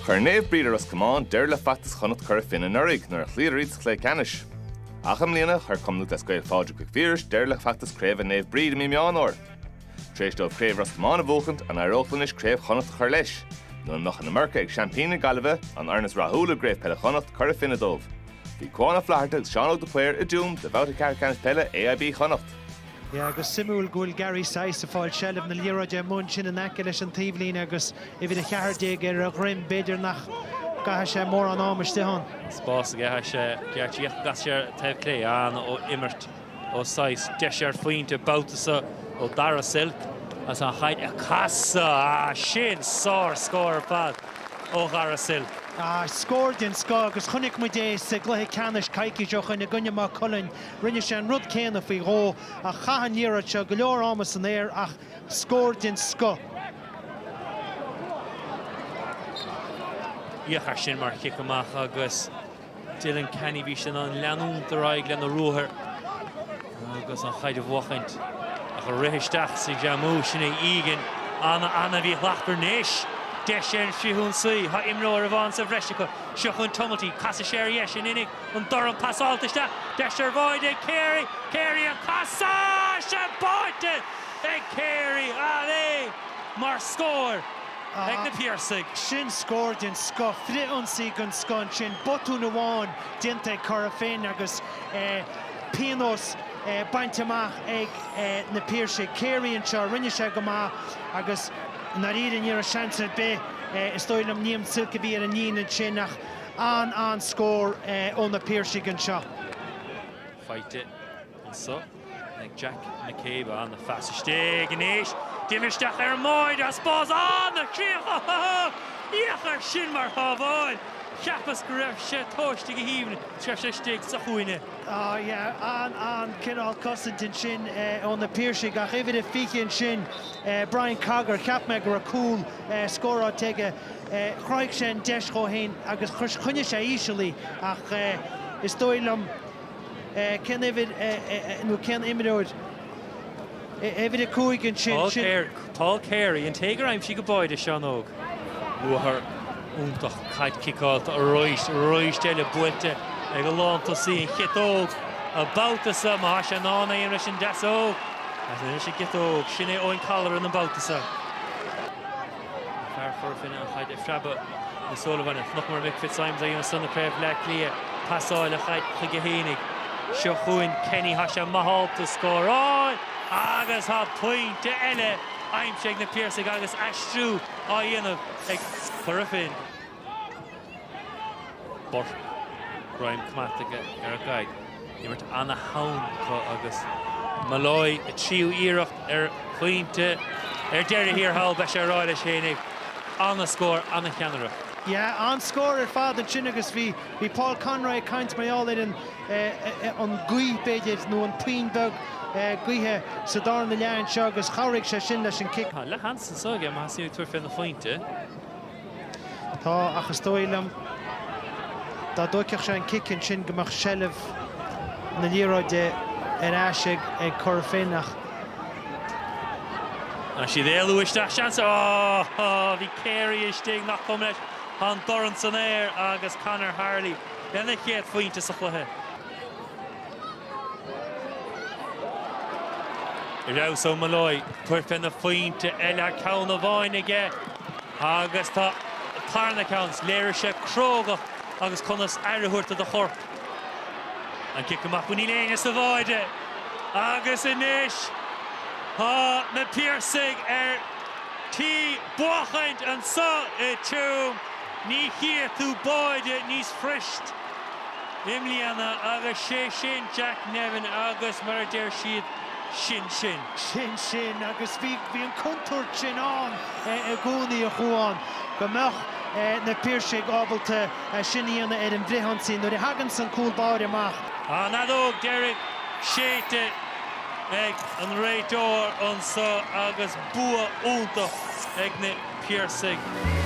Chuir Naomh Bríd i Ros Comáin deireadh le feachtas Chonnacht Chora Finne anuraidh nuair a chloíodar iad sa chluiche ceannais. Ach i mbliana, chuir Cumann Lúthchleas Gael Phádraig Mhic Phiarais deireadh le feachtas craoibhe Naomh Bríd i mí Meán Fhómhair. Tar éis dóibh craobh Ros Comáin a bhuachaint, an éireodh leo anois craobh Chonnacht a chur leis? Nó an mbeadh an iomarca ag seaimpíní na Gaillimhe, an fhoireann is rathúla i gCraobh Peile Chonnacht Cora Finne dóibh? Bhí Cuán Ó Flatharta agus Seán Óg de Paor i dTuaim do bhabhta ceathrú ceannais peile AIB Chonnacht. Yeah, agus suimiúil go bhfuil Gary Sice ag fáil seilbh na liathróide amuigh ansin in aice leis an taobhlíne agus uimhir 14 ar a dhroim. B'fhéidir nach gcaithfidh sé mórán ama istigh ann. Spás aige, chaith sé geáitsí ach chas sé ar taobh clé. An-imirt ó Sice. Deis ar phointe, babhta seo ó Darragh Silke. As an chaid a casadh. Ah, sin sárscór ar fad ó Dharragh Silke. Ah, scór den scoth agus chonaic muid é sa gcluiche ceannais coicís ó shin i gcoinne Maigh Cuilinn Rinne sé an rud céanna faoi dhó ach chaith an liathróid seo go leor ama san aer ach scór den scoth. Féach air sin mar chic amach agus Dylan Canney, bhí sé in ann leanúint ar aghaidh lena ruathar agus an chaid a bhuachaint ach ag rith isteach sa Jammu. Sin é Egan. Ana, ana-mhíshlachtmhar anois. Deis ar an bhfrith-ionsaí. Tá imreoir amháin sa bhreis acu. Seo chugainn Tumulty. Casfaidh sé ar a dheis in inniu. An dorn pasáilte isteach, deis ar bháide ag Carey, Carey an casadh! Is é báite ag Carey ach é mar scór ag na Piarsaigh. Sin scór den scoth, frith-ionsaí den scoth ansin, botún amháin déanta ag Cora Finne agus pionós bainte amach ag na Piarsaigh. Carey anseo, rinne sé go maith agus, i ndáiríre, ní raibh seans ar bith, is dóigh liom, Liam Silke a bhí ar an líne ansin ach, An an-scór ó na Piarsaigh anseo. Faighte anseo ag Jack McCabe. Ana-phas istigh anois. Déanamh isteach ar an mbáide spás. Ana-chríoch ho ho ho! Féach air sin mar shábháil. Cheapas go raibh sé tomhaiste go haoibhinn is raibh sé istigh sa chúinne. Á yeah, an an cineál cosaint ansin ó na Piarsaigh ach uimhir a fiche ansin, Brian Cogger, cheap mé go raibh cúl scóráilte aige. Chruthaigh sé an deis dhó fhéin agus choinnigh sé íseal í ach is dóigh liom cén uimhir é nó cén imreoir é? Uimhir a cúig ansin, sin. Paul Carey, an té gur aimsigh an báide Seán Óg. Ruathar iontach, caid ciceáilte arís, arís eile buailte ag an lántosaí an chiotóg an babhta seo, má tá sé in ann é a dhéanamh leis an deasóg. Anois an chiotóg, sin é Eoin Colleran an babhta seo. An fear Chora Finne an chaid á phreabadh na Sullivan. Nach mar Mick Fitzsimons a dhéanamh insa chraobh Bleá Cliath. Pasáil a chaid chuige féinig. Seo chugainn Kenny. Tá sé ábalta scóráil agus tá pointe eile aimsithe ag na Piarsaigh agus aistriú á dhéanamh ag Cora Finne. Burke, greim go maith aige ar an gcaid. Imirt ana-theann acu agus. Molloy, a tríú iarracht ar phointe ar deireadh thiar thall, beidh sé a rá leis fhéinig, an-scór, an-cheannaireacht. Yeah, an-scór ar fad ansin agus bhí Paul Conroy ag caint mar gheall ar an an gaoth, b'fhéidir, nó an puinn bheag gaoithe sa tarna leath anseo agus chabhraigh sé sin leis an cic. Tá leathsheans anseo aige, má thosaíonn ag tabhairt féna phointe. Tá, ach is dóigh liom dá dtóigfeadh sé an cic ansin go mbeadh seilbh na liathróide ar ais ag Cora Finne ach. Tá siad ag éalú isteach, seans ar oh! Bhí Carey istigh, nach cuma leis? Tá an dorn san aer agus Conor Harley lena chéad phointe sa chluiche. Damhsa ó Molloy, tabhairt féna phointe eile, ceann amháin aige. Agus tá tarna ceann. Léirigh sé crógacht agus conas aire a thabhairt do do chorp. An cic amach, bhí níl éinne sa bháide! Agus anois tá na Piarsaigh ar tí buachaint anso i Tuam. Ní chífidh tú báide níos fuiriste i mbliana agus sé sin Jack Nevin agus mar a deir siad, sin sin. sin sin agus bhí bhí an contúirt sin ann i gcónaí a Chúán go mbeadh na Piarsaigh ábalta é sin a dhéanamh ar an bhfrithionsaí nuair a thaganns an cúl báire amach. An fheadóg deiridh séidte ag an réiteoir anseo agus bua iontach ag na Piarsaigh.